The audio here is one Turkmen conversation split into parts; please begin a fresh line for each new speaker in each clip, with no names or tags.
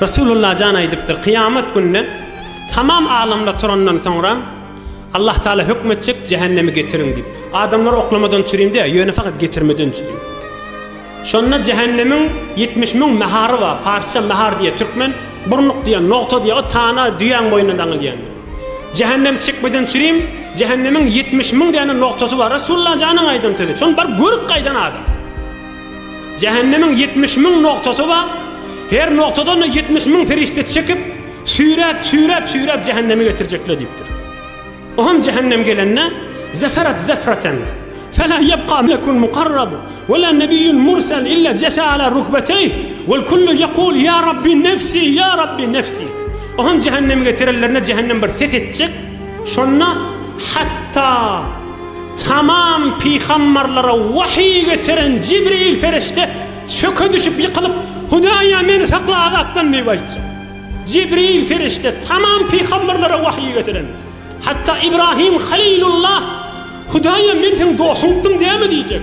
Resulullah jan aýdypdyr, kyýamat gününe tamam alamlar turandan soňra Allah Taala höküm etjek, jähennemi getiriň diýip. Adamlar oklamadan çürin däl, ýöne fakat getirmeden çürin. Şonda jähennemiň 70 müň mähary bar, farsça mähar diýýär, türkmen burnuk diýýär, nogta diýýär, o tana düýäň boýnuna daňylýan. Jähennem çekmeden çürin, jähennemiň 70 müň däne nogtasy bar. Resulullah janyň aýdan sözi. Şony baryp görüp gaýdan adam. Jähennemiň ýetmiş müň noktasy bar, her noktadan-da ýetmiş müň perişde çekip, süýräp, süýräp, süýräp jähenneme getirjekler diýipdir. O hem jähennem gelende, zeferat zefraten, fela ýebka melekun mukarrab, wela nebiýun mursal illa jese ala rukbeteýh, wel kullu ýekul ýa Rabbi nefsi, ýa Rabbi nefsi. O hem jähenneme getirenlerinde jähennem bir ses etjek, şonda hatda, Tamam pygamberlere wahyy geçiren Jibril perişde çöke düşüp ýykylyp, Hudaýa meni sakla azapdan diýip aýtjak. Jibril perişde tamam pygamberlere wahyy getiren. Hatda Ibrahim Halilullah Hudaýa men seň dosuňdym dämi diýjek.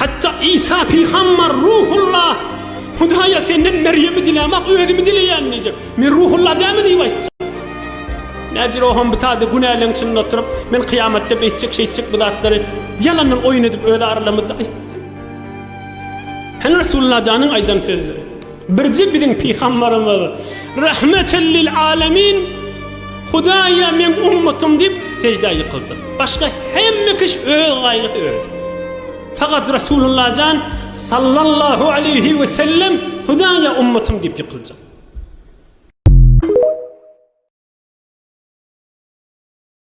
Hatda Isa pygamber, Ruhullah, Hudaýa senden Merýemi diläm-ak, özümi dileýän diýjek. Men Ruhullah dälmi diýip aýtjak. Nädýr o hem butady günäleň içinde oturyp, men kyýamatda beýtjek, şeýtjek bu zatlary ýalandan oýun edip öz aralarymyzda aýtdy. Hany Resulullah janyň aýdan sözleri? Birje biziň pygambarymyz, Rahmeten lil alemin, Hudaýa meň ummatym diýip seždä ýykyldy. Başga hemme kiş öz gaýgysy özi. Fakat Resulullah jan sallallahu aleyhi ve sellem Hudaýa ummatym diýip ýykyldy.